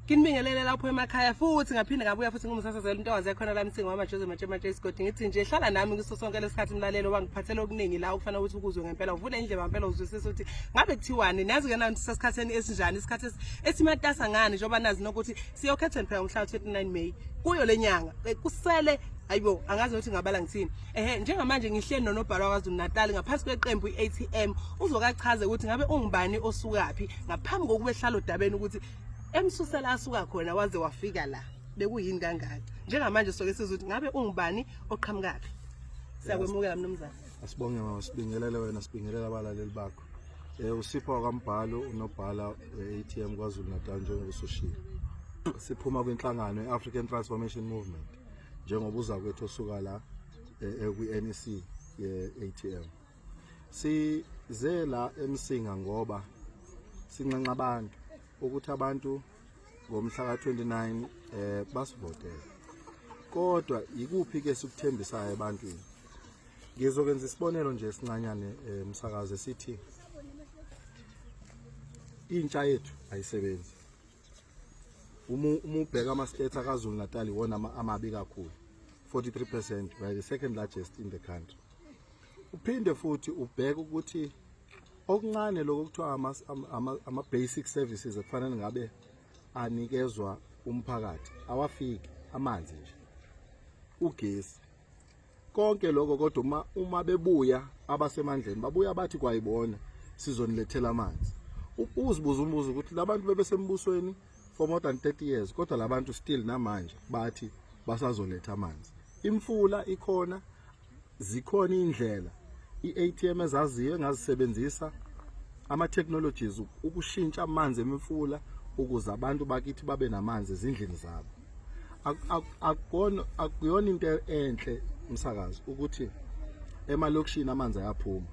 Kinibingelele lapho emakhaya futhi ngaphinde ngabuya futhi ngumsasazela intokazi yakhona la msingo wama Jose Matshe Matshe isigodi ngithi nje hlala nami kuso sonke lesikhathi mlalelo wangiphathela okuningi la ukufana ukuthi ukuzwe ngempela uvule indlebe ngempela uzwisisa ukuthi ngabe kuthiwani nazi ke nanti sesikhatheni esinjani isikhathi esimatasa ngani njengoba nazi nokuthi siyokhethwa phela umhla 29 May kuyo lenyanga eh, kusele ayibo angazi ukuthi ngabala ngithini ehe njengamanje ngihleli nonobhala waKwaZulu Natal ngaphansi kweqembu iATM uzokachaze ukuthi ngabe ungubani osukaphi ngaphambi kokuba ehlala odabeni ukuthi emsusela asuka khona waze wafika la bekuyini kangaka njengamanje soke sizwe ukuthi ngabe ungubani oqhamukaphi siyakwemukela mnumzane asibonge mama sibingelele wena sibingelela abalaleli bakho um usipho wakambhalo unobhala we-a t m kwazulu natal njengoba usushile siphuma kwinhlangano i-african transformation movement njengoba uza kwethu osuka la ekwi-nec ye-a t m Size la eMsinga ngoba sinxenxa abantu ukuthi abantu ngomhla ka-29 eh basivotele. Kodwa ikuphi ke sikuthembisayo ebantwini? Ngizokwenza isibonelo nje esincanyane eh, umsakaze sithi intsha yethu ayisebenzi. Uma uma ubheka ama states akaZulu Natal iwona amabi kakhulu. 43% right the second largest in the country. uphinde futhi ubheke ukuthi okuncane lokho kuthiwa ama-basic services ekufanele ngabe anikezwa umphakathi awafiki amanzi nje ugesi konke lokho kodwa uma uma bebuya abasemandleni babuya bathi kwayibona sizonilethela amanzi uzibuza umbuzo ukuthi labantu bebesembusweni for more than 30 years kodwa labantu still namanje bathi basazoletha amanzi imfula ikhona zikhona indlela iATM ezaziyo engazisebenzisa ama technologies ukushintsha amanzi emifula ukuze abantu bakithi babe namanzi ezindlini zabo akukona akuyona into enhle umsakazi ukuthi emalokishini amanzi ayaphuma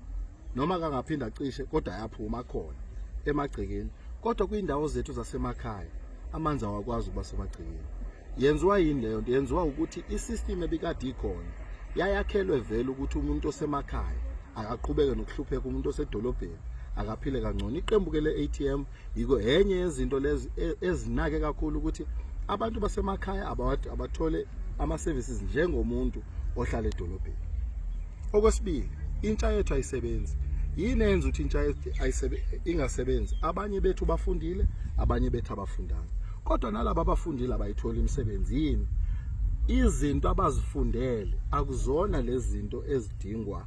noma kangaphinda acishe kodwa ayaphuma khona emagcekeni kodwa kwiindawo zethu zasemakhaya amanzi awakwazi ukuba semagcekeni yenziwa yini leyo nto yenziwa ukuthi i-system ebikade ikhona yayakhelwe vele ukuthi umuntu osemakhaya akaqhubeke nokuhlupheka umuntu osedolobheni akaphile kangcono iqembu ke le-atm yiko enye yezinto lezi e, ezinake kakhulu ukuthi abantu basemakhaya abathole ama-services njengomuntu ohlala edolobheni okwesibili intsha yethu ayisebenzi yini enza ukuthi intsha ingasebenzi abanye bethu bafundile abanye bethu abafundanga kodwa nalabo abafundile abayitholi imisebenzi yini izinto abazifundele akuzona lezi zinto ezidingwa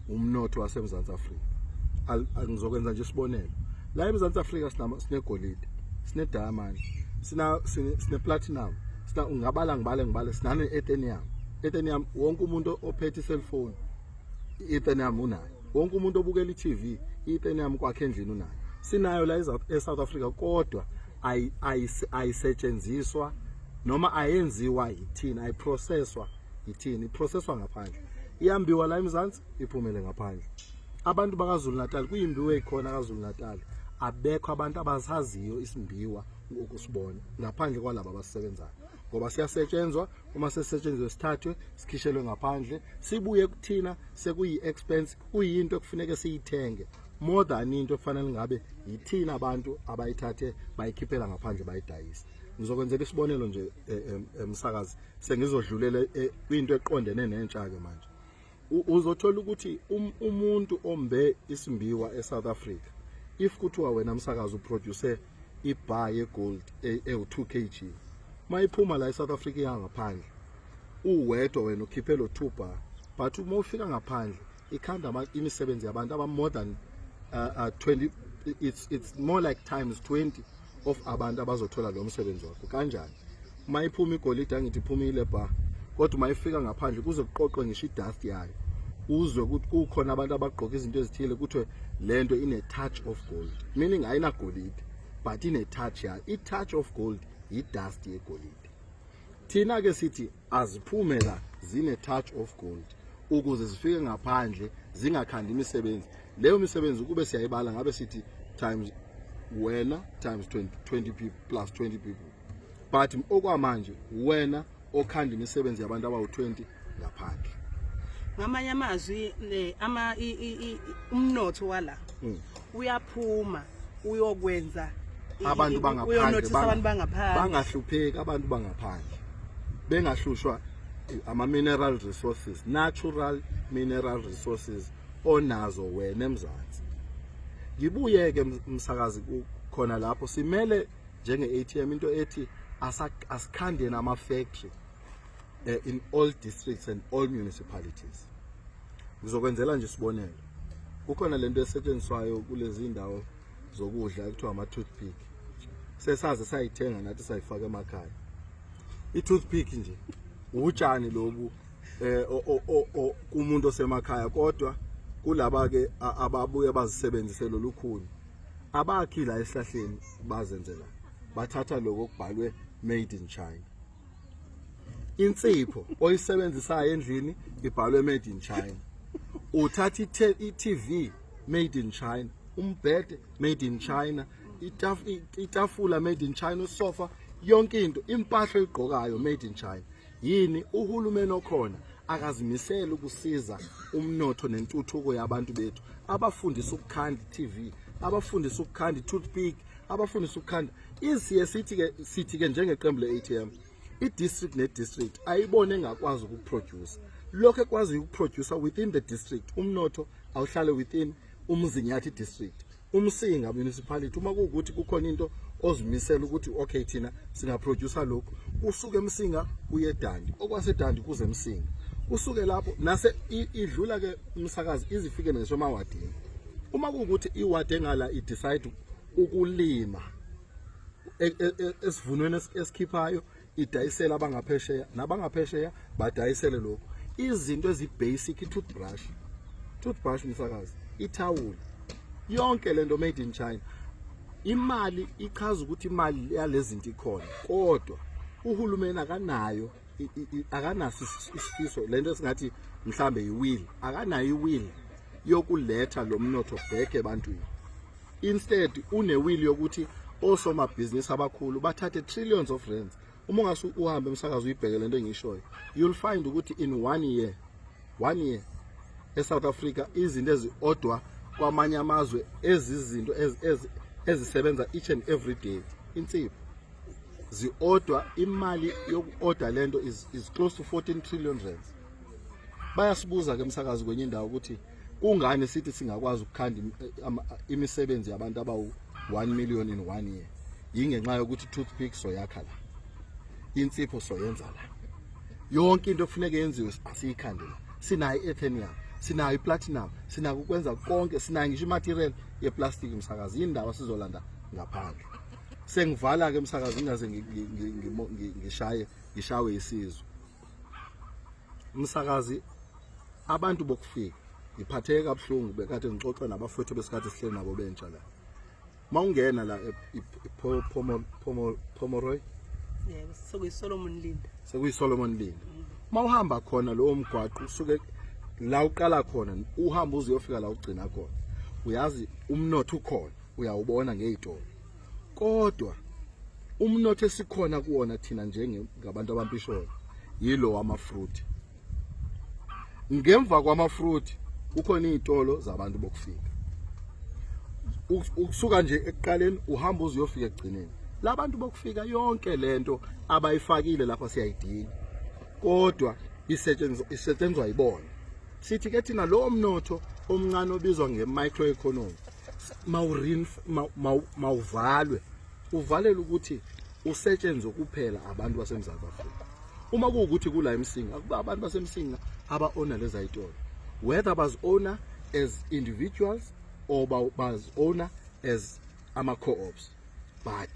umnotho waseMzantsi Afrika ngizokwenza nje isibonelo la eMzantsi Afrika sinegolide sine-diamond sina sine-platinum sina ungabala ngibale ngibale sinane-ethenium ethenium wonke umuntu ophethe i-cellphone i-ethenium unayo wonke umuntu obukela i-tv i-ethenium kwakhe endlini unayo sinayo la e-south africa kodwa ayisetshenziswa noma ayenziwa yithina ayiprocesswa ithini iprocesswa ngaphandle iyambiwa la emzansi iphumele ngaphandle abantu bakazulu natal kuyimbiwa ekhona kazulu natal abekho abantu abasaziyo isimbiwa ngokusibona ngaphandle kwalabo abasebenzayo ngoba siyasetshenzwa uma sesetshenzwe sithathwe sikhishelwe ngaphandle sibuye kuthina sekuyi expense kuyinto ekufuneke siyithenge more than into ekufanele ngabe yithina abantu abayithathe bayikhiphela ngaphandle bayidayisa ngizokwenzela isibonelo nje emsakazi eh, eh, sengizodlulela eh, kwinto eqondene nentsha ke manje uzothola ukuthi um, umuntu ombe isimbiwa eSouth Africa if kuthiwa wena msakazi uproduce ibar yegold e, ewu2 kg mayiphuma la eSouth Africa yangaphandle uwedwa wena ukhiphe lo 2 bar but uma ufika ngaphandle ikhanda imisebenzi yabantu aba more than uh, uh, 20 it's it's more like times 20 of abantu abazothola lo msebenzi wakho kanjani uma iphuma igolide angithi iphumile bha kodwa uma ifika ngaphandle kuze kuqoqwe ngisho idust yayo uzwe ukuthi kukhona abantu abagqoka izinto ezithile kuthiwe le nto ine-touch of gold meaning ayinagolide but ine-touch yayo i-touch of gold yi-dust yegolide thina-ke sithi aziphumela zine-touch of gold ukuze zifike ngaphandle zingakhandi imisebenzi Leyo misebenzi ukube siyayibala ngabe sithi times wena times 20, 20 people plus 20 people but okwamanje wena okhanda imisebenzi yabantu abawu-20 ngaphandle ngamanye amazwi eh, ama umnotho wala hmm. uyaphuma uyokwenza abantu bangaphandle bangahlupheki abantu bangaphandle bengahlushwa ama-mineral resources natural mineral resources onazo wena emzansi ngibuye ke umsakazi khona lapho simele njenge ATM into ethi asikhande nama factory eh, in all districts and all municipalities ngizokwenzela nje isibonelo kukhona lento esetshenziswayo kulezi ndawo zokudla ekuthiwa ama toothpick sesaze sayithenga nathi sayifaka emakhaya i toothpick nje utshani lobu eh kumuntu osemakhaya kodwa kulaba ke ababuye bazisebenzise lolukhuni abakhi la esihlahleni bazenzela bathatha lokho kubhalwe made in China insipho oyisebenzisayo endlini ibhalwe made in China uthatha i-TV made in China umbhede made in China itafula made in China usofa yonke into impahla oyigqokayo made in China yini uhulumeni okhona akazimisele ukusiza umnotho nentuthuko yabantu bethu abafundisa ukukhanda TV abafundisa ukukhanda toothpick abafundisa ukukhanda isiye sithi ke sithi ke njengeqembu leATM idistrict nedistrict ayibone engakwazi ukuproduce lokho ekwazi ukuproducer within the district umnotho awuhlale within umzinyathi district umsinga municipality uma kuwukuthi kukhona into ozimisela ukuthi okay thina singaproducer lokhu usuke emsinga uye dandi okwasedandi kuze emsinga usuke lapho nase idlula ke umsakazi izifike ngisho emawadini uma kuwukuthi iwadi engala idecide ukulima e, e, e, esivunweni esikhiphayo idayisela abangaphesheya nabangaphesheya badayisele lokho izinto ezibasic i-toothbrush toothbrush msakazi ithawula yonke lento made in China imali ichaza ukuthi imali yalezinto ikhona kodwa uhulumeni akanayo akanaso isifiso lento esingathi mhlambe yiwill akanayo iwill yokuletha lo mnotho back ebantwini instead unewili yokuthi osomabhizinisi abakhulu bathathe trillions of rands uma ungase uhambe emsakazo uyibheke lento engishoyo you'll find ukuthi in one year one year eSouth Africa izinto eziodwa kwamanye amazwe ezizinto ezisebenza each and every day insipho ziodwa imali yokuorder lento is, is close to 14 trillion rands bayasibuza ke emsakazi kwenye indawo ukuthi kungani sithi singakwazi ukukhanda imisebenzi yabantu abawu 1 million in one year yingenxa yokuthi toothpick soyakha la insipho soyenza la yonke into ekufuneka yenziwe siyikhande la sinayo i-ethenium sinayo i-platinum sinako ukwenza konke sinayo ngisho i-material ye-plastic msakazi yini ndawo sizolanda ngaphandle sengivala-ke msakazi ngingaze ngishaye ngishawe isizwe msakazi abantu bokufika ngiphatheke kabuhlungu bekade ngixoxa nabafowethu besikhathi sihleli nabo bentsha la mawungena la e, e, e, Pomoroy yebo sekuyiSolomon Linda sekuyiSolomon Linda mm. mawuhamba khona lowo mgwaqo usuke la uqala khona uhamba uziyofika la ugcina khona uyazi umnotho ukhona uyawubona ngezitolo kodwa umnotho esikhona kuwona thina njengabantu abampisholo yilo wama-fruit ngemva kwama-fruit kukhona iy'tolo zabantu bokufika ukusuka nje ekuqaleni uhamba uze uyofika ekugcineni labantu bokufika yonke lento abayifakile lapha siyayidinga kodwa isetshenzwa yibona sithi ke thina lowo mnotho omncane obizwa nge-microeconomy mawuvalwe uvalele ukuthi usetshenzwe kuphela abantu basemzantsi afrika uma kuwukuthi kula emsinga akuba abantu basemsinga aba-ona leza yitolo whether bazi-ona as individuals or bazi-ona as ama-co-ops but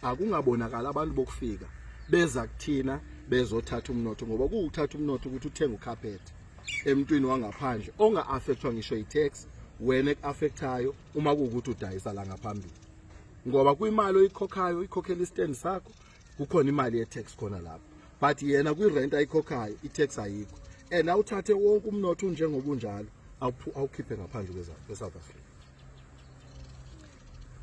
akungabonakala abantu bokufika beza kuthina bezothatha umnotho ngoba kuwuthatha umnotho ukuthi uthenge ucarpet emntwini wangaphandle onga affectwa ngisho i-tax wena ekuaffectayo uma kuwukuthi udayisa la ngaphambili ngoba kwimali oyikhokhayo ikhokhela istand sakho kukhona imali ye-tax khona lapho but yena kwi-rent ayikhokhayo i-tax ayikho and awuthathe wonke umnotho unjengoba unjalo awukhiphe ngaphandle kwe-south africa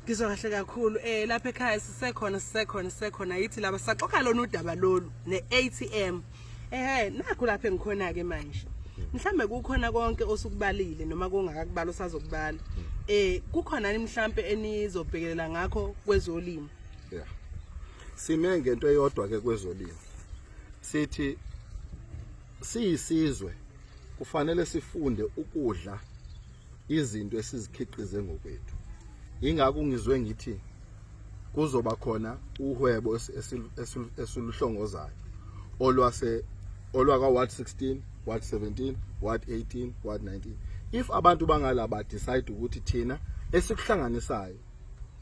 ngizwa kahle kakhulu eh lapha ekhaya sisekhona sisekhona sisekhona yithi laba saxoxa lona udaba lolu ne-atm ehe nakho lapha engikhona-ke manje mhlambe kukhona konke osukubalile noma kungakakubala usazokubala eh kukhona mhlambe enizobhekelela ngakho kwezolimo yeah sime ngento eyodwa ke kwezolimo sithi siyisizwe kufanele sifunde ukudla izinto esizikhiqize ngokwethu ingakho ngizwe ngithi kuzoba khona uhwebo esiluhlongozayo olwase olwaka ward 16 ward 17 ward 18 ward 19 if abantu bangala ba decide ukuthi thina esikuhlanganisayo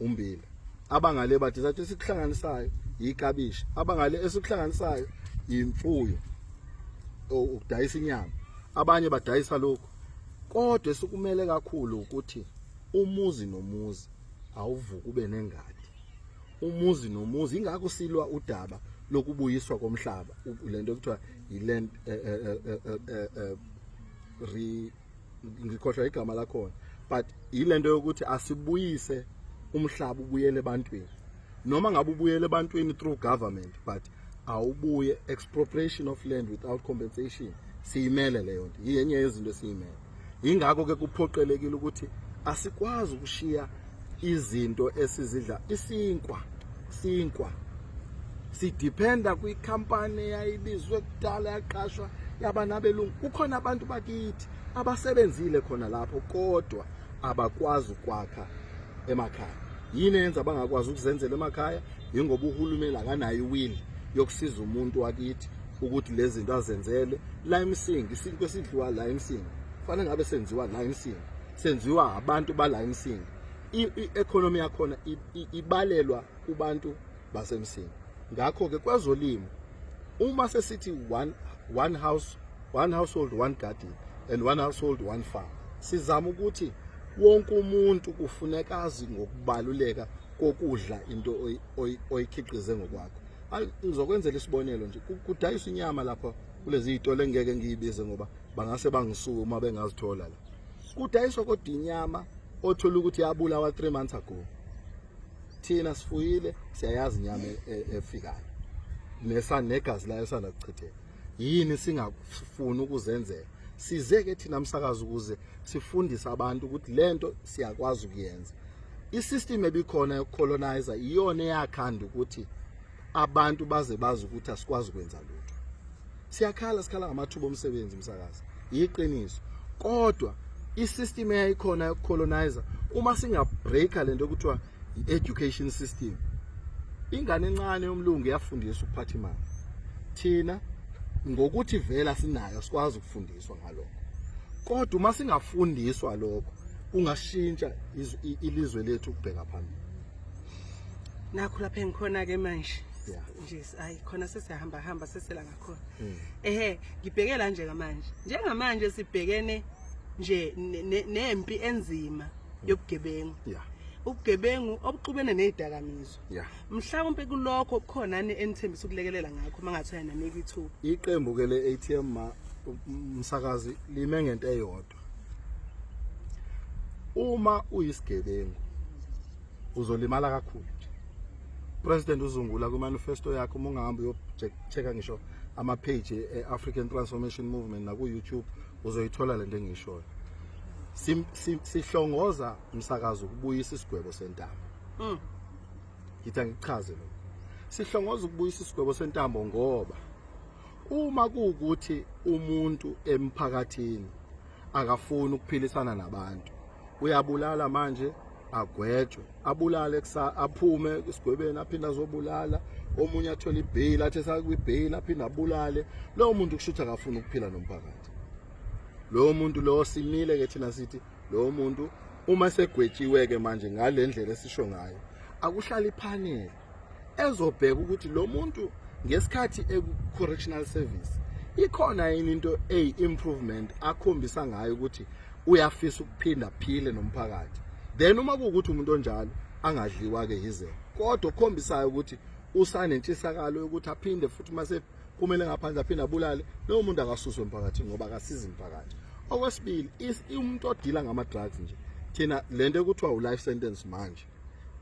umbila abangale ba decide esikuhlanganisayo yikabishi abangale esikuhlanganisayo imfuyo ukudayisa inyama abanye badayisa lokhu Kodwa esikumele kakhulu ukuthi umuzi nomuzi awuvuka ube nengadi. Umuzi nomuzi ingakho silwa udaba lokubuyiswa komhlaba lento ekuthiwa yiland eh, eh, eh, re ngikhohlwa igama lakhona but yilento yokuthi asibuyise umhlaba ubuyele ebantwini noma ngabe ubuyele ebantwini through government but awubuye expropriation of land without compensation siyimele leyo nto yenye yezinto esiyimele yingakho ke kuphoqelekile ukuthi asikwazi ukushiya izinto esizidla isinkwa sinkwa sidependa kwikhampani eyayibizwe kudala yaqashwa yaba nabelungu kukhona abantu bakithi abasebenzile khona lapho kodwa abakwazi ukwakha emakhaya yini yenza bangakwazi ukuzenzela emakhaya yingoba uhulumeni akanayo iwili yokusiza umuntu wakithi ukuthi lezi zinto azenzele la emsingi isinto esidliwa la emsingi kufanele ngabe senziwa la emsingi senziwa abantu bala emsingi i-economy yakhona ibalelwa kubantu basemsingi ngakho-ke kwezolimo uma sesithi one, one house one household one garden and one household one farm sizama ukuthi wonke umuntu kufuneka azi ngokubaluleka kokudla into oyikhiqize ngokwakho ngizokwenzela isibonelo nje kudayisa inyama lapha kulezi zitolo engeke ngiyibize ngoba bangase bangisuke uma bengazithola la kudayiswa kodwa inyama othola ukuthi yabulawa 3 months ago thina sifuyile siyayazi inyama e, e, efikayo nesanegazi layo sanakuchitheka yini singafuni ukuzenzela size ke thina msakazi ukuze sifundise abantu ukuthi lento siyakwazi ukuyenza isystem ebikhona yokucolonizer iyona eyakhanda ukuthi abantu baze bazi ukuthi asikwazi ukwenza lutho siyakhala sikhala ngamathuba omsebenzi msakazi yiqiniso kodwa isystem eyayikhona yokucolonizer uma singabreaker lento okuthiwa i-education system ingane encane yomlungu yafundiswa ukuphatha imali thina ngokuthi vela sinayo sikwazi ukufundiswa ngalokho kodwa uma singafundiswa lokho kungashintsha ilizwe lethu ukubheka phambili nakho lapha engikhona ke manje nje ayi khona sesiyahamba hamba sesela ngakhona hmm. ehe ngibheke la nje kamanje njengamanje sibhekene nje nempi enzima yobugebengu yeah ubugebengu obuxubene nezidakamizwa yeah mhlawumbe kulokho kukhona ani enithembisa ukulekelela ngakho mangathiwa nanika ithuba iqembu ke le ATM ma umsakazi lime ngento eyodwa uma uyisigebengu uzolimala kakhulu president uzungula ku manifesto yakhe uma ungahamba uyocheka ngisho ama page e African Transformation Movement na ku YouTube uzoyithola lento engishoyo sihlongoza umsakazo ukubuyisa isigwebo sentambo mm. ngithi angichaze lo sihlongoza ukubuyisa isigwebo sentambo ngoba uma kuwukuthi umuntu emphakathini akafuni ukuphilisana nabantu uyabulala manje agwetshwe abulale kusa aphume esigwebeni aphinde azobulala omunye athole ibheyili athi esakwibheyili aphinde abulale lowo muntu kusho ukuthi akafuni ukuphila nomphakathi lowo muntu lowo simile ke thina sithi lowo muntu uma segwetshiwe-ke manje ngale ndlela esisho ngayo akuhlali phanele ezobheka ukuthi lo muntu ngesikhathi eku-correctional service ikhona yini into eyi-improvement akhombisa ngayo ukuthi uyafisa ukuphinda phile nomphakathi then uma kuwukuthi umuntu onjalo angadliwa-ke yize kodwa okhombisayo ukuthi usanentshisakalo yokuthi aphinde futhi uma sephumele ngaphandle aphinde abulale lowo muntu akasuswe emphakathini ngoba akasizi mphakathi okwesibili umuntu odila ngama-drugs nje thina le nto ekuthiwa u-life sentence manje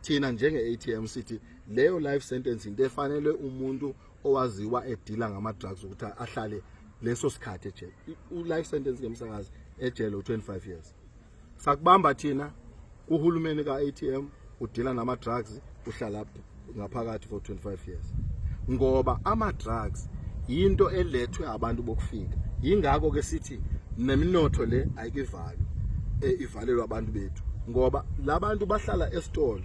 thina njenge-atm sithi leyo life sentence into efanele umuntu owaziwa edila ngama-drugs ukuthi ahlale leso sikhathi ejele u-life sentence ngemsakazi ejele u-25 years sakubamba thina uhulumeni ka-atm udila nama-drugs uhlala ngaphakathi for 25 years ngoba ama drugs into elethwe abantu bokufika yingakho ke sithi neminotho le ayikivalwe eh, ivalelwa abantu bethu ngoba labantu bahlala esitolo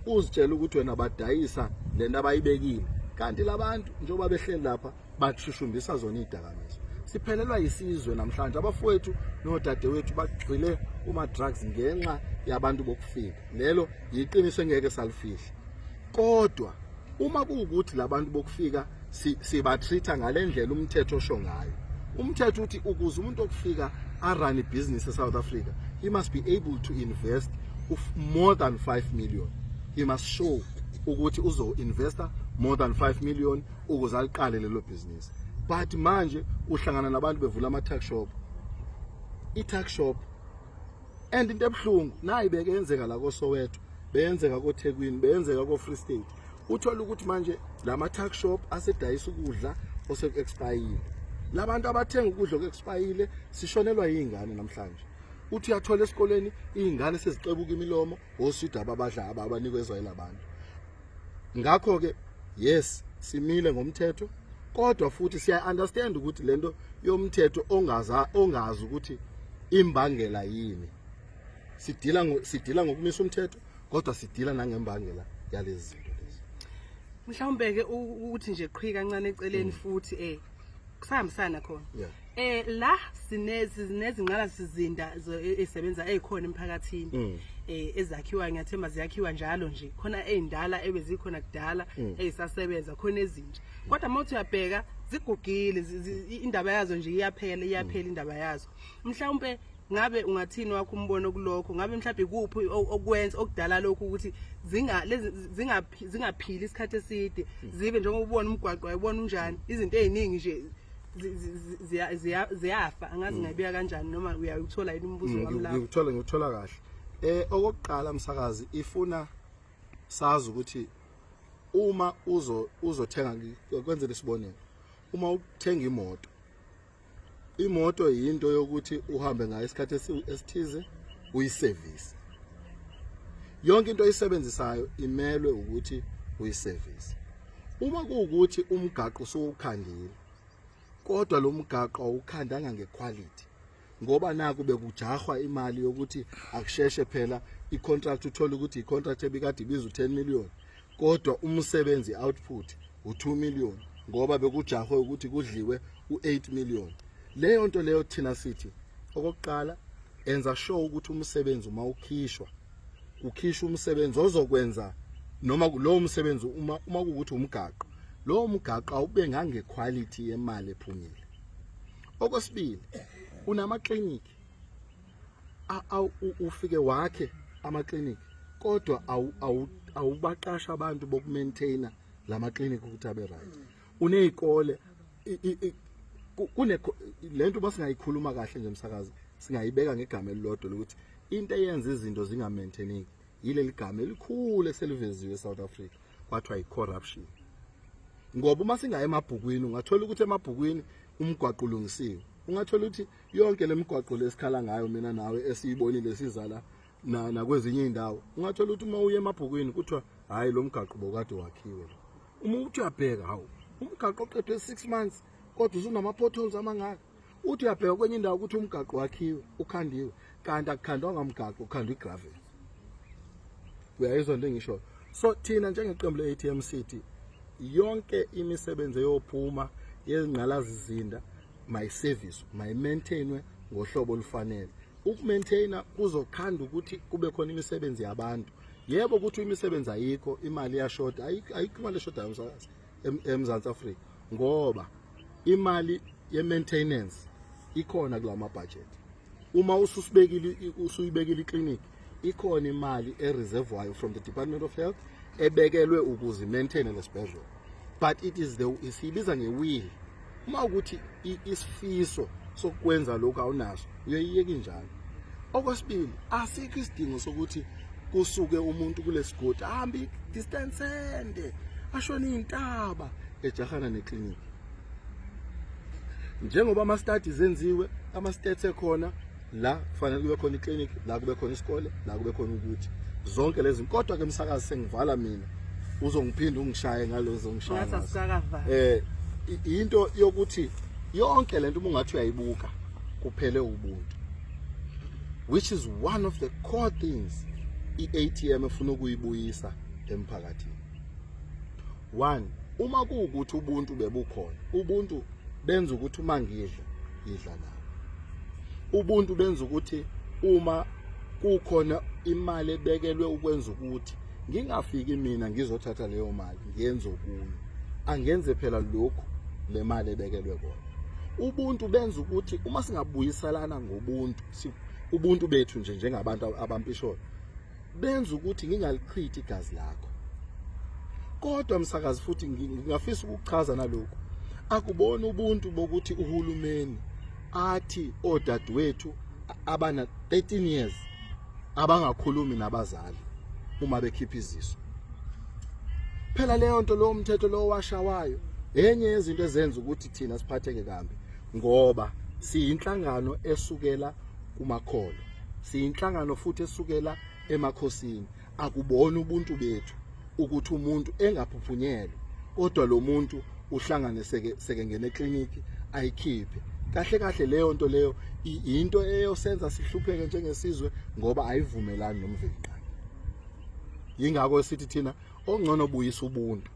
uzitshela ukuthi wena badayisa lento abayibekile kanti labantu njengoba behleli lapha bashushumbisa zona izidakamizwa siphelelwa yisizwe namhlanje abafowethu nodadewethu bagxile kuma-drugs ngenxa yabantu bokufika lelo yiqiniso engeke salifihla kodwa uma kuwukuthi labantu bokufika sibatreat ngale ndlela umthetho osho ngayo umthetho uthi ukuze umuntu okufika arun ibhizinisi eSouth Africa he must be able to invest more than 5 million he must show ukuthi uzo-investa more than 5 million ukuze aliqale lelo bhizinisi but manje uhlangana nabantu bevula ama-tuck shop i-tuck shop and into ebuhlungu nayi beke yenzeka la kosoweto beyenzeka kothekwini beyenzeka ko-free state uthole ukuthi manje la ma-tuck shop asedayisa ukudla oseku-expayile la bantu abathenga ukudla oku-expayile sishonelwa yiy'ngane namhlanje uthi uyathola esikoleni iy'ngane sezixebuka imilomo osida ababadla abanikwe ezwayela abantu ngakho ke yes simile ngomthetho kodwa futhi siya understand ukuthi lento yomthetho ongaza ongazi ukuthi imbangela yini sidila sidila ngokumisa umthetho kodwa sidila nangembangela yalezi zinto lezi mhlawumbe ke ukuthi nje qhwi kancane eceleni mm. futhi eh kusahambisana khona Eh la sinezi sinezinqala sizinda esebenza ezikhona emphakathini mm. eh ezakhiwa ngiyathemba ziyakhiwa njalo nje khona ezindala ebezikhona kudala mm. ezisasebenza khona ezintsha kodwa mawuthi uyabheka zigugile indaba yazo nje iyaphela iyaphela mm. indaba yazo mhlawumbe ngabe ungathini wakho umbono kulokho ngabe mhlawumbe kuphi okwenza okudala lokhu ukuthi zinga zingaphili isikhathi eside zibe njengoba ubona umgwaqo wayibona unjani izinto eziningi nje ziyafa angazi mm. ngayibuya kanjani noma uyawuthola yini umbuzo mm, wami lapho ngikuthola ngikuthola kahle eh okokuqala msakazi ifuna sazi ukuthi uma uzo uzothenga kwenzele isibonelo uma uthenga imoto imoto yinto yokuthi uhambe ngayo isikhathi esithize uyisevisi yonke into oyisebenzisayo imelwe ukuthi uyisevisi uma kuwukuthi umgaqo usuwukhandile kodwa lo mgaqo awukhandanga ngequality ngoba naku bekujahwa imali yokuthi akusheshe phela icontract uthole ukuthi icontract ebikade ibiza u10 million kodwa umsebenzi output u2 million ngoba bekujahwe ukuthi kudliwe u8 million leyo nto leyo thina sithi okokuqala enza sure ukuthi umsebenzi uma ukhishwa ukhishwa umsebenzi ozokwenza noma lowo msebenzi uma uma ukuthi umgaqo lowo mgaqo awube ngange quality yemali ephumile okwesibili unama clinic ufike wakhe ama clinic kodwa awubaqasha abantu boku maintainer lama clinic ukuthi abe right unezikole kune lento basingayikhuluma kahle nje msakazi singayibeka ngegama elilodwa lokuthi into eyenza izinto zinga maintaineki yileli gama elikhulu eseliveziwe eSouth Africa kwathiwa yicorruption ngoba uma singaye emabhukwini ungathola ukuthi emabhukwini umgwaqo ulungisiwe ungathola ukuthi yonke lemigwaqo lesikhala ngayo mina nawe esiyibonile sizala na nakwezinye indawo ungathola ukuthi uma uye emabhukwini kuthiwa hayi lo mgaqo bokade wakhiwe lo uma uthi uyabheka hawu umgaqo oqedwe 6 months kodwa usunama potholes amangaka uthi uyabheka kwenye indawo ukuthi umgaqo wakhiwe ukhandiwe kanti akukhandwa ngamgaqo ukhandwa igravel uyayizwa into engisho so thina njengeqembu le-ATM City yonke imisebenzi eyophuma yezingqalazizinda mayiseviswe mayimaintainwe ngohlobo olufanele ukumaintaina kuzokhanda ukuthi kube khona imisebenzi yabantu yebo ukuthi imisebenzi ayikho imali iyashoda ayikho imali eshodayo umsakazi eMzantsi Afrika ngoba imali ye-maintenance ikhona kula mabhajethi uma ususibekile usuyibekile ikliniki ikhona imali ereservwayo from the department of health ebekelwe ukuze maintaine lesibhedlela but it is the siyibiza ngewill uma ukuthi isifiso sokwenza lokhu awunaso uyoyiyeki njalo okwesibili asikho isidingo sokuthi kusuke umuntu kulesigodi ahambe distance ende ashona intaba ejahana neclinic njengoba ama studies enziwe ama stats ekhona la kufanele kube khona iclinic la kube khona isikole la kube khona ukuthi zonke lezi kodwa ke msakazi sengivala mina uzongiphinda ungishaye ngalozo ngishaya eh into yokuthi yonke lento uma ungathi uyayibuka kuphele ubuntu which is one of the core things iATM efuna ukuyibuyisa emphakathini one uma kuwukuthi ubuntu bebukhona ubuntu benza ukuthi uma ngidla ngidla nawo ubuntu benza ukuthi uma kukhona imali ebekelwe ukwenza ukuthi ngingafiki mina ngizothatha leyo mali ngenze okunye angenze phela lokhu le mali ebekelwe kona ubuntu benza ukuthi uma singabuyiselana ngobuntu ubuntu bethu nje njengabantu abampisholo benza ukuthi ngingalichithi igazi lakho kodwa msakazi futhi ngingafisa ukuchaza nalokho akubona ubuntu bokuthi uhulumeni athi odadewethu abana 13 years abangakhulumi nabazali uma bekhipha iziso phela leyo nto lo mthetho lo washawayo enye yezinto ezenza ukuthi thina siphatheke kambi ngoba siyinhlangano esukela kumakholo siyinhlangano futhi esukela emakhosini akubona ubuntu bethu ukuthi umuntu engaphuphunyelwe kodwa lo muntu uhlangane seke seke ngene clinic ayikhiphe kahle kahle leyo nto leyo into eyosenza sihlupheke njengesizwe ngoba ayivumelani nomveliqa yingakho sithi thina ongcono buyisa ubuntu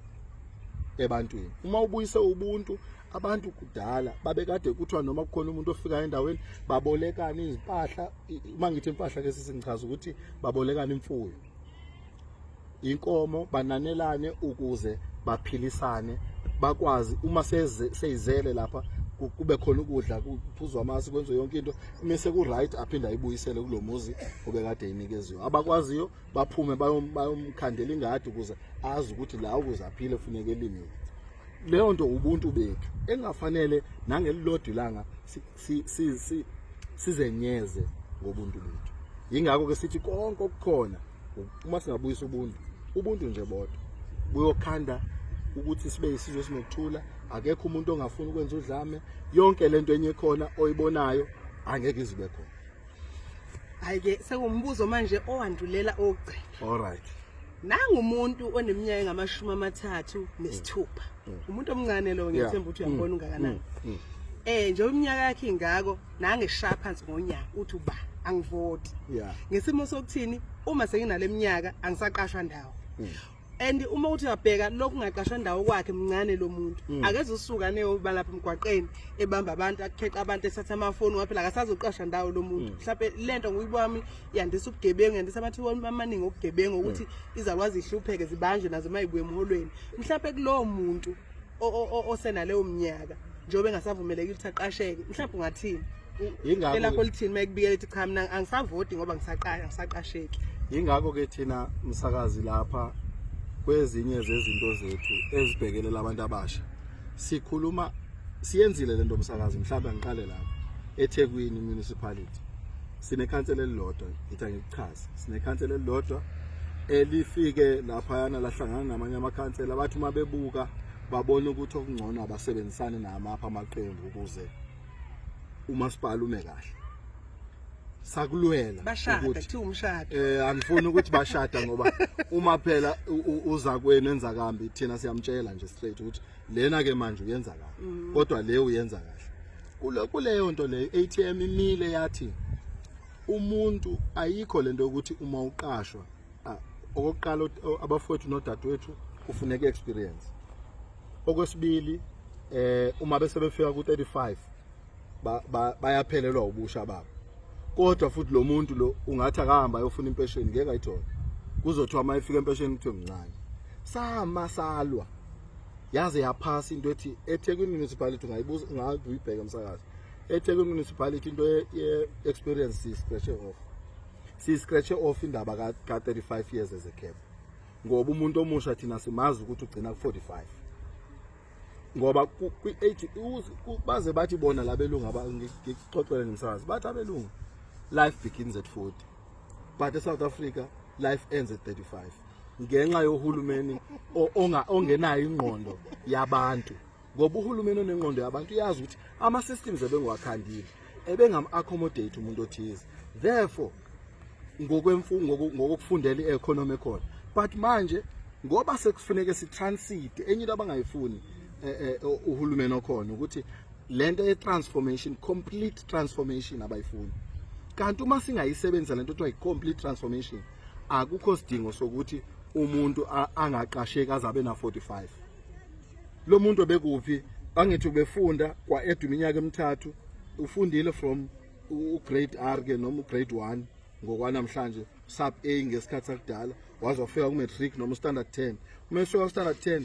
ebantwini uma ubuyise ubuntu abantu kudala babekade kuthiwa noma kukhona umuntu ofika endaweni babolekana izimpahla uma ngithi impahla ke sisingichaza ukuthi babolekana imfuyo inkomo bananelane ukuze baphilisane bakwazi uma seyizele lapha kube khona ukudla kuphuzwa amasi kwenziwe yonke into mase ku right aphinde ayibuyisele kulomuzi obekade inikeziwe abakwaziyo baphume bayomkhandela ingadi ukuze azi ukuthi la ukuze aphile kufuneka elimile leyo nto ubuntu bethu engafanele nangelilodwa ilanga sizenyeze ngobuntu bethu yingakho ke sithi konke okukhona uma singabuyisa ubuntu ubuntu nje bodwa buyokhanda ukuthi sibe isizwe sinokuthula akekho umuntu ongafuni ukwenza udlame yonke lento enye khona oyibonayo angeke izibe khona ayike sekuwumbuzo manje owandulela ogcina all right nangu umuntu oneminyaka engamashumi amathathu nesithupha mm. mm. umuntu omncane lo ngiyethemba ukuthi uyambona mm. ungakanani eh nje iminyaka yakhe ingako nange shaya phansi ngonyaka uthi uba angivoti ngesimo sokuthini uma senginale minyaka angisaqashwa ndawo and uma uthi uyabheka lokhu ngaqashwa ndawo kwakhe mncane lo muntu akeze usuka neyoba lapha emgwaqeni ebamba abantu akukheqa abantu esatha amafoni waphela akasazoqasha ndawo lo muntu mhlawumbe lento nguyibami yandisa ubugebengu yandisa amathuba amaningi okugebengu ukuthi hmm. izalwazi ihlupheke zibanjwe nazo uma ibuye emholweni mhlawumbe kulowo muntu osenaleyo mnyaka njengoba engasavumeleki ukuthi aqasheke mhlawumbe ungathini yingakho elakho lithini uma ekubikela ethi cha mina angisavoti ngoba ngisaqasha ngisaqasheki yingakho ke thina msakazi lapha kwezinye zezinto zethu ezibhekelela abantu abasha sikhuluma siyenzile lento msakazi mhlawumbe ngiqale lapha eThekwini municipality sinekhansela elilodwa ngithi angikuchaze sinekhansela elilodwa elifike laphayana lahlangana namanye amakhansela abathi uma bebuka babona ukuthi okungcono abasebenzisane namapha amaqembu ukuze umasipala ume kahle sakulwela ukuthi umshado eh angifuni ukuthi bashada ngoba uma phela uzakwenu enza kambi thina siyamtshela nje straight ukuthi lena ke manje uyenza kahle mm. kodwa le uyenza kahle kule kuleyo nto leyo ATM imile yathi umuntu ayikho lento ukuthi uma uqashwa okokuqala abafowethu nodadewethu kufuneka experience okwesibili eh uma bese befika ku 35 bayaphelelwa ubusha babo kodwa futhi lo muntu lo ungathi akahamba ayofuna impesheni ngeke ayithole kuzothiwa uma efika empesheni kuthiwe mncane sama salwa yaze yaphasa into ethi eThekwini municipality ungayibuza ungayibheka umsakazi eThekwini municipality into ye experience si scratch off si scratch off indaba ka 35 years as a cap ngoba umuntu omusha thina simazi ukuthi ugcina ku 45 ngoba kwi age baze bathi bona labelungu abangixoxele nomsakazi bathi abelungu life begins at 40 but eSouth Africa life ends at 35 ngenxa yohulumeni ongenayo ingqondo yabantu ngoba uhulumeni onengqondo yabantu uyazi ukuthi ama systems ebengwakhandile ebengam accommodate umuntu othize therefore ngokwemfungo ngokufundela i-economy khona but manje ngoba sekufuneke sitransit enye into abangayifuni eh, eh, uhulumeni okhona ukuthi lento ye transformation complete transformation abayifuni kanti uma singayisebenzisa lento kuthiwa i-complete transformation akukho sidingo sokuthi umuntu angaqasheki azabe na 45 lo muntu obekuphi angithi ubefunda kwa edu iminyaka emithathu ufundile from ugrade R ke noma ugrade 1 ngokwanamhlanje sub A ngesikhathi sakudala wazofika kumatric noma standard 10 uma esuka standard 10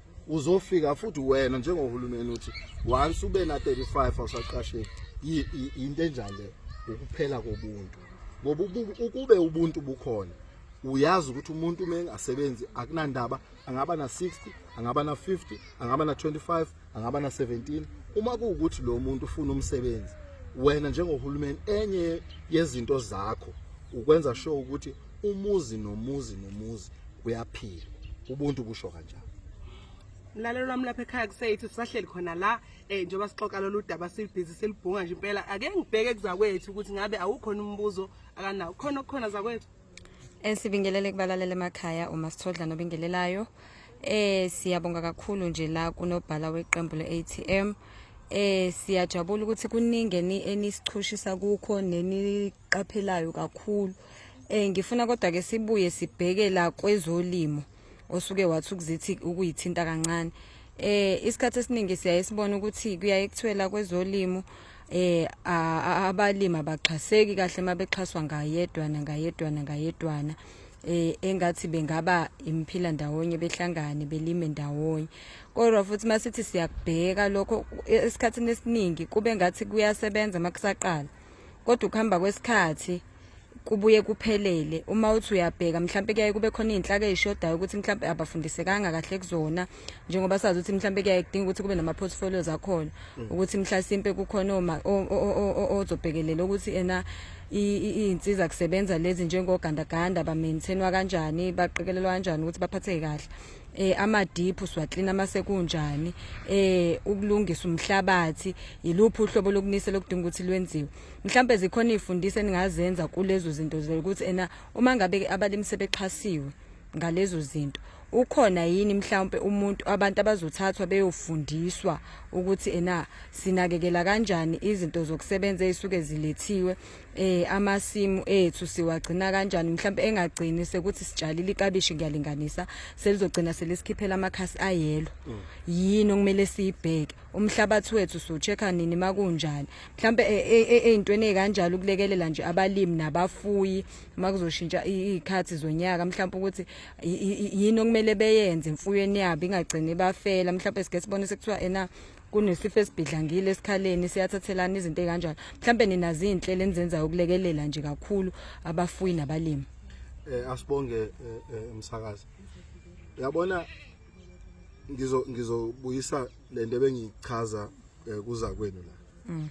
uzofika futhi wena njengohulumeni uthi once ube na 35 awusaqasheki into enjani le ukuphela kobuntu ngoba ukube ubuntu bukhona uyazi ukuthi umuntu uma engasebenzi akunandaba angaba na 60 angaba na 50 angaba na 25 angaba na 17 uma kuwukuthi lo muntu ufuna umsebenzi wena njengohulumeni enye yezinto zakho ukwenza sure ukuthi umuzi nomuzi nomuzi kuyaphila ubuntu busho kanjalo mlalelo lwami lapha ekhaya kuseyithi sisahleli khona la um njengoba sixoxa lolu daba silibhizi silibhunga nje impela ake ngibheke kuzakwethu ukuthi ngabe awukhona umbuzo akanawo khona okukhona zakwethu um sibingelele kubalalela emakhaya uma sithodla nobingelelayo um siyabonga kakhulu nje la kunobhala weqembu le-a t m um siyajabula ukuthi kuningi enisichushisa kukho engikuqaphelayo kakhulu eh ngifuna kodwa ke sibuye sibheke la kwezolimo osuke wathi ukuzithi ukuyithinta kancane eh isikhathi esiningi siyaye sibona ukuthi kuyaye kuthiwela kwezolimo eh abalimi abaxhaseki kahle mabexhaswa ngayedwana ngayedwana ngayedwana eh engathi bengaba imphila ndawonye behlangane belime ndawonye kodwa futhi masithi siyakubheka lokho esikhathini esiningi kube ngathi kuyasebenza makusaqala kodwa ukuhamba kwesikhathi kubuye kuphelele uma uthi uyabheka mhlawumbe kuyaye kube khona izinhlaka ezishodayo ukuthi mhlawumbe abafundisekanga kahle kuzona njengoba sazi ukuthi mhlawumbe kuyaye kudinga ukuthi kube nama portfolios akhona mm. ukuthi mhlasimpe kukhona oma ozobhekelela ukuthi ena izinsiza kusebenza lezi njengogandaganda ba maintainwa kanjani baqikelelwa kanjani ukuthi baphatheke kahle eh amadiphu siwaklina mase kunjani eh ukulungisa umhlabathi yiluphi uhlobo lokunisela okudinga ukuthi lwenziwe mhlambe zikhona ifundiso eningazenza kulezo zinto ukuthi ena uma ngabe abalimi sebexhasiwe ngalezo zinto ukhona yini mhlawumbe umuntu abantu abazothathwa beyofundiswa ukuthi ena sinakekela kanjani izinto zokusebenza ezisuke zilethiwe eh amasimu ethu siwagcina kanjani mhlawumbe engagcini sekuthi sitshalile ikabishi ngiyalinganisa selizogcina selisikhiphela amakhasi ayelo mm. yini okumele siyibheke umhlabathi wethu sochecka nini makunjani mhlawumbe e, e, e, ezintweni ezikanjalo ukulekelela nje abalimi nabafuyi makuzoshintsha izikhathi zonyaka mhlawumbe ukuthi yini okumele beyenze imfuyweni yabo ingagcini bafela mhlawumbe sike sibone sekuthiwa ena kunesifo esibhidlangile esikhaleni siyathathelana izinto ekanjalo mhlambe ninazi inhlelo enizenzayo ukulekelela nje kakhulu abafuyi nabalimi eh asibonge eh, eh, umsakazi yabona ngizo ngizobuyisa lento ebengichaza eh, kuza kwenu la mm.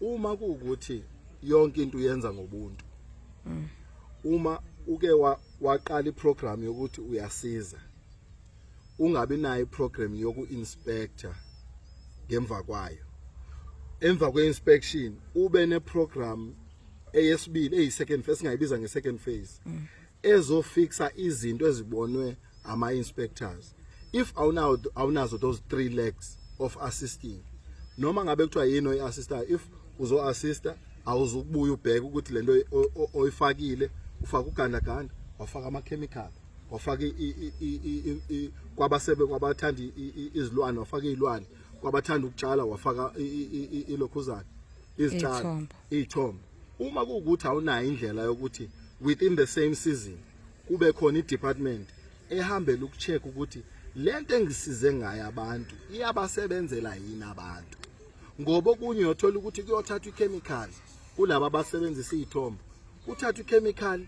uma kuukuthi yonke into uyenza ngobuntu mm. uma uke waqala iprogram yokuthi uyasiza ungabi nayo iprogram yoku inspector ngemva kwayo emva kweinspection ube neprogram eyesibili eyisecond phase singayibiza ngesecond phase mm. ezofixa izinto ezibonwe ama inspectors if awunawo awunazo those three legs of assisting noma ngabe kuthiwa yini oyiassista if uzo assista awuzukubuya ubheke ukuthi lento oyifakile ufaka ugandaganda wafaka ama chemical wafaka kwabasebe kwabathanda izilwane wafaka izilwane kwabathanda ukutshala wafaka ilokhuzana izitshalo izithombo uma kuwukuthi awunayo indlela yokuthi within the same season kube khona i-department ehambela ukucheck ukuthi lento engisize ngayo abantu iyabasebenzela yini abantu ngoba okunye uyothola ukuthi kuyothathwa i-chemicals kulaba abasebenzisa iy'thombo Uthatha ichemical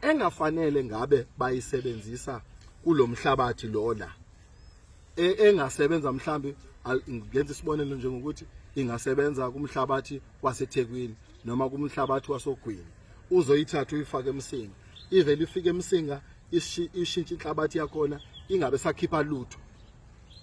engafanele ngabe bayisebenzisa kulomhlabathi lo la. E, engasebenza mhlambi ngenza isibonelo njengokuthi ingasebenza kumhlabathi waseThekwini noma kumhlabathi wasogwini uzoyithatha uyifake emsinga ivele ifike emsinga ishintshe inhlabathi yakhona ingabe sakhipha lutho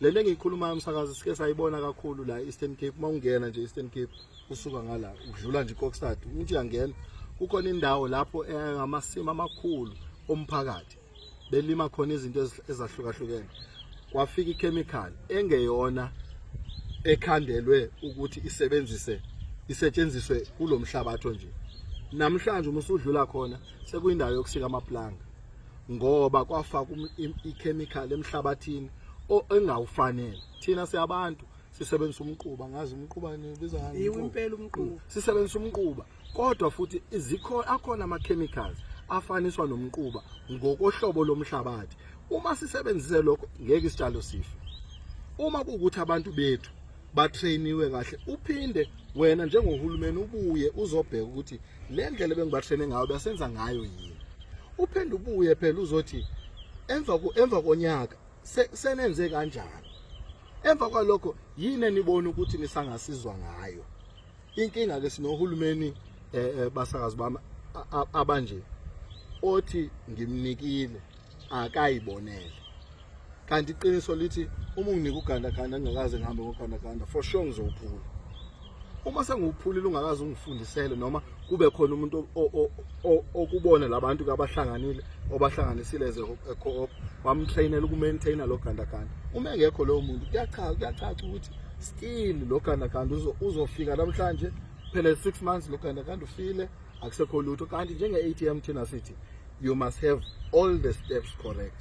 le nto engiyikhulumayo msakazi sike sayibona kakhulu la Eastern Cape uma ungena nje Eastern Cape usuka ngala udlula nje iKokstad umuntu uyangena kukhona indawo lapho engamasima amakhulu omphakathi belima khona izinto ezahlukahlukene kwafika ichemical engeyona ekhandelwe ukuthi isebenzise isetshenziswe kulomhlabatho nje namhlanje uma usudlula khona sekuyindawo yokusika amaplanga ngoba kwafaka um, ichemical emhlabathini engawufanele thina siyabantu sisebenzisa umquba ngazi umquba nibiza ngani impela umquba mm. sisebenzisa umquba kodwa futhi izikho akhona ama chemicals afaniswa nomquba ngokohlobo lomhlabathi uma sisebenzise lokho ngeke isitshalo sife uma kuwukuthi abantu bethu batrainiwe kahle uphinde wena njengohulumeni ubuye uzobheka ukuthi le ndlela bengibatraine ngayo basenza ngayo yini uphinde ubuye phela uzothi emva emva konyaka senenze kanjani emva kwalokho yini enibona ukuthi nisangasizwa ngayo inkinga ke sinohulumeni eh, eh, basakazi bami abanje othi ngimnikile akayibonele kanti iqiniso lithi uma unginika ugandaganda ngingakaze ngihambe ngogandaganda for sure ngizowuphula uma sengiwuphulile ungakaze ungifundisele noma kube khona umuntu okubona labantu kabahlanganile obahlanganisile as co-op bamtrainela ukumaintaina lo gandaganda uma engekho lowo muntu kuyachaza kuyacaca ukuthi still lo gandaganda uzofika namhlanje phela 6 months lo gandaganda ufile akusekho lutho kanti njenge-atm thina sithi you must have all the steps correct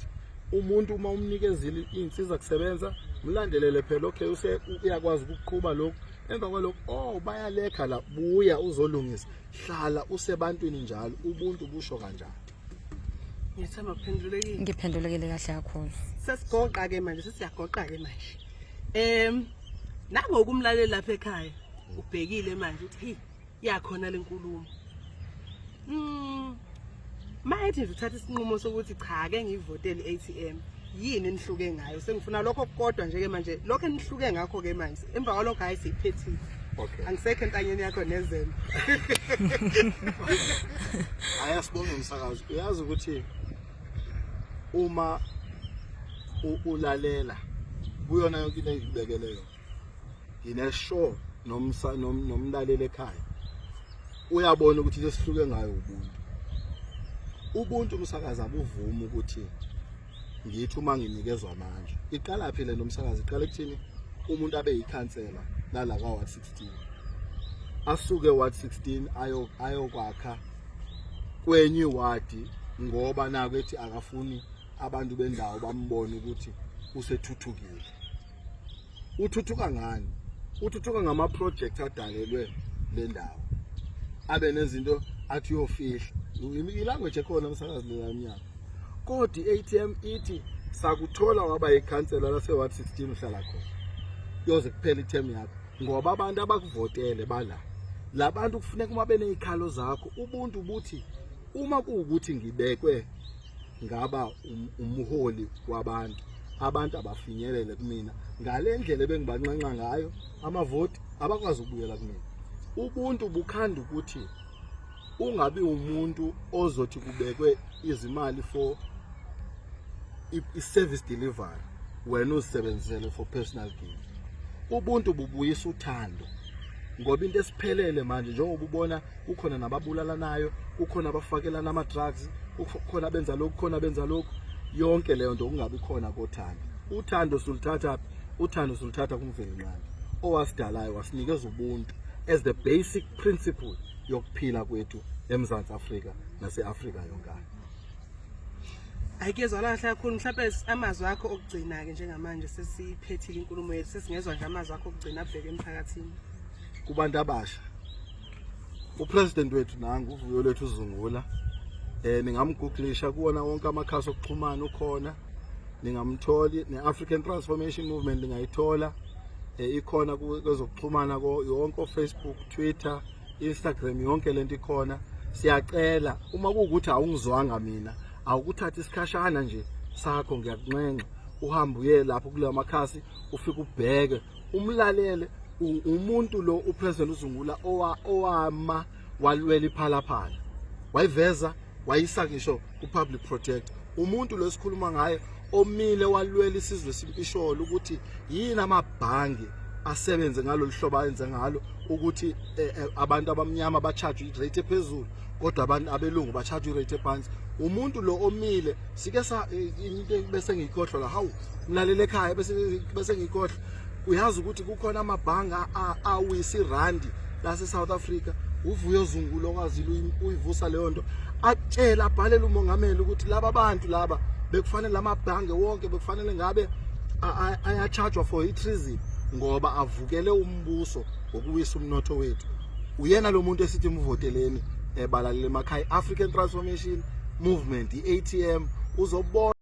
umuntu uma umnikezile iy'nsiza kusebenza mlandelele phela okay use uyakwazi ukuqhuba lokhu emva kwalokho oh bayalekha la buya uzolungisa hlala usebantwini njalo ubuntu busho kanjani ngiyethemba kuphendulekile ngiphendulekile kahle kakhulu sesigoqa ke manje sesiyagoqa ke manje em nangokumlalela lapha ekhaya ubhekile manje uthi hey yakhona lenkulumo mm mayethi nje uthatha isinqumo sokuthi cha ke ngivotele ATM yini enihluke ngayo sengifuna lokho kodwa nje ke manje lokho enihluke ngakho ke manje emva kwalokho hayi siyiphethile okay angisekho entanyeni yakho nezembe aya sibonga umsakazo uyazi ukuthi uma ulalela kuyona yonke into engibekele yona ngine show nomsa nomlaleli ekhaya uyabona ukuthi lesihluke ngayo ubuntu ubuntu umsakazi abuvumi ukuthi ngithi uma nginikezwa amandla iqala phi le nomsakazi iqala ekuthini umuntu abe yikhansela lala ka ward 16 asuke ward 16 ayo ayokwakha kwenye ward ngoba naku ethi akafuni abantu bendawo bambone ukuthi usethuthukile uthuthuka ngani uthuthuka ngama project adalelwe le ndawo abe nezinto athi uyofihla ilanguage ekhona umsakazi lelanyaka kodwa i-atm ithi sakuthola waba yikhansela lase-ward 16 uhlala khona yoze kuphela i-term yakho ngoba abantu abakuvotele bala labantu kufuneka uma benezikhalo zakho ubuntu buthi uma kuwukuthi ngibekwe ngaba um, umholi wabantu abantu abafinyelele kumina ngale ndlela ebengibanxenxa ngayo amavoti abakwazi ukubuyela kumina ubuntu bukhanda ukuthi ungabi umuntu ozothi kubekwe izimali for i-service delivery wena uzisebenzisele for personal gain ubuntu bubuyisa uthando ngoba into esiphelele manje njengoba ubona kukhona nababulalanayo kukhona abafakelana ama-drugs kukhona abenza lokhu kukhona abenza lokhu yonke leyo nto kungabi khona kothando uthando suluthatha phi uthando suluthatha kumvelinqangi owasidalayo wasinikeza ubuntu as the basic principle yokuphila kwethu emzantsi afrika nase-afrika yonkana ayikezwa la kahle kakhulu mhlawumbe amazwi akho okugcina-ke njengamanje sesiphethile inkulumo yethu sesingezwa nje amazwi akho okugcina abheke emphakathini kubantu abasha upresident wethu nangu uvuyo lwethu uzungula eh ningamgooglisha kuwona wonke amakhasi okuxhumana ukhona ningamtholi ne-african transformation movement ningayithola eh, ikhona kwezokuxhumana yonke ofacebook twitter instagram yonke lento ikhona siyacela uma kuwukuthi awungizwanga mina awukuthatha isikhashana nje sakho ngiyakunxenxa uhambe uye lapho kulawo makhasi ufike ubheke umlalele umuntu lo upresident uzungula owama walwela iphalaphala wayiveza wayisa ngisho kupublic protect umuntu lo esikhuluma ngaye omile walwela isizwe simpisholo ukuthi yini amabhangi asebenze ngalolu hlobo ayenze ngalo ukuthi eh, eh, abantu abamnyama bachajwe irate ephezulu kodwa abantu abelungu bacharge rate phansi umuntu lo omile sike sa eh, into bese ngiyikhohlwa la hawu ngilalele ekhaya bese bese ngiyikhohlwa uyazi ukuthi kukhona amabhanga awisi randi lase South Africa uvuyo zungu lokwazile uyivusa leyo nto atshela abhalele umongameli ukuthi laba bantu laba bekufanele amabhange wonke bekufanele ngabe ayachargewa for i-treason ngoba avukele umbuso ngokuwisa umnotho wethu uyena lo muntu esithi muvoteleni ebalalele emakhaya African Transformation Movement iATM uzobona